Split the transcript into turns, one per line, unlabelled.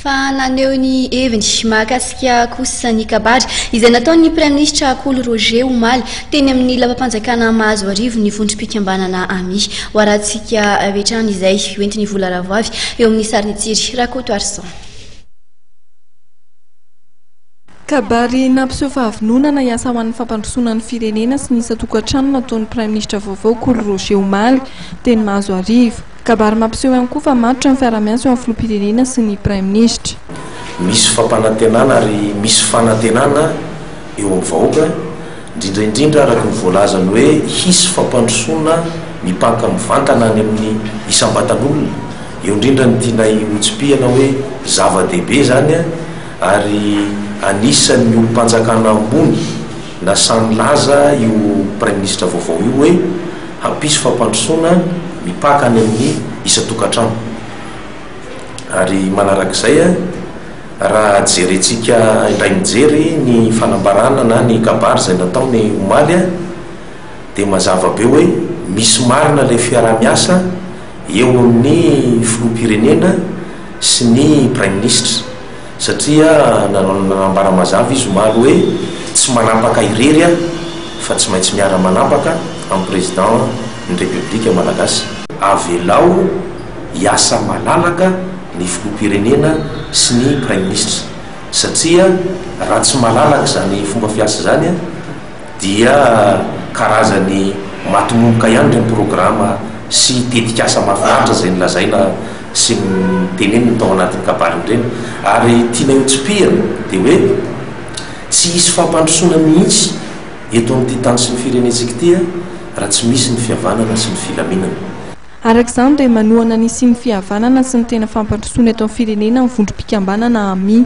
fa naneho ny heviny mahakasika kosa ny kabary izay nataon'ny Praiminisitra Kolo Roger omaly teny amin'ny lapam-panjakana Mahazoarivo ny vondrom-pikambanana AMI. Hoarantsika avy hatrany izay hoentin'ny vola ravoavy eo amin'ny sarin'i Tsiry Rakotoarison.
Kabary nampiseho fahavononana hiasa ho an'ny fampandrosoana ny firenena sy ny isan-tokantrano nataon'ny Praiminisitra vaovao Kolo Roger omaly teny Mahazoarivo. Kabary mampiseho ihany koa fa matotra ny fiaraha-miasa eo amin'ny filoham-pirenena sy ny praiminisitra. Misy
fampanantenana ary misy fanantenana eo amin'ny vahoaka, indrindra indrindra araka ny voalazany hoe hisy fampandrosoana mipanka mivantana any amin'ny isam-batan'olona, eo indrindra ny tianay hotsipihana hoe zava-dehibe izany ary anisan'ny olom-panjakana ambony na sahy nilaza io praiminisitra vaovao io hoe. Hampisy fampandrosoana mipaka any amin'ny isan-tokantrano. Ary manarak'izay, raha jerentsika indray mijery ny fanambarana na ny kabary izay natao ny omaly, dia mazava be hoe misy marina ilay fiaraha-miasa eo amin'ny filoham-pirenena sy ny praiminisitra. Satria nanambara mazava izy omaly hoe tsy manapaka irery aho fa tsy maintsy miara manapaka amin'ny Président ny République Malagasy. Avelao hiasa malalaka ny Filoham-pirenena sy ny Praiminisitra satria raha tsy malalaka izany fomba fiasa izany, dia karazany matomomboka ihany ireny programa sy tetikasa mahafinaritra izay nolazaina sy noteneniny tao anatin'ny kabaliny ireny ary tianay ho tsipihina dia hoe tsy hisy fampandrosoana mihitsy eto amin'ity tany sy ny firenentsika ity raha tsy misy ny fihavanana sy ny filaminana. Araka izany
dia manohana ny hisian'ny fihavanana sy ny tena fampandrosoana eto amin'ny firenena ny vondrom-pikambanana Ami.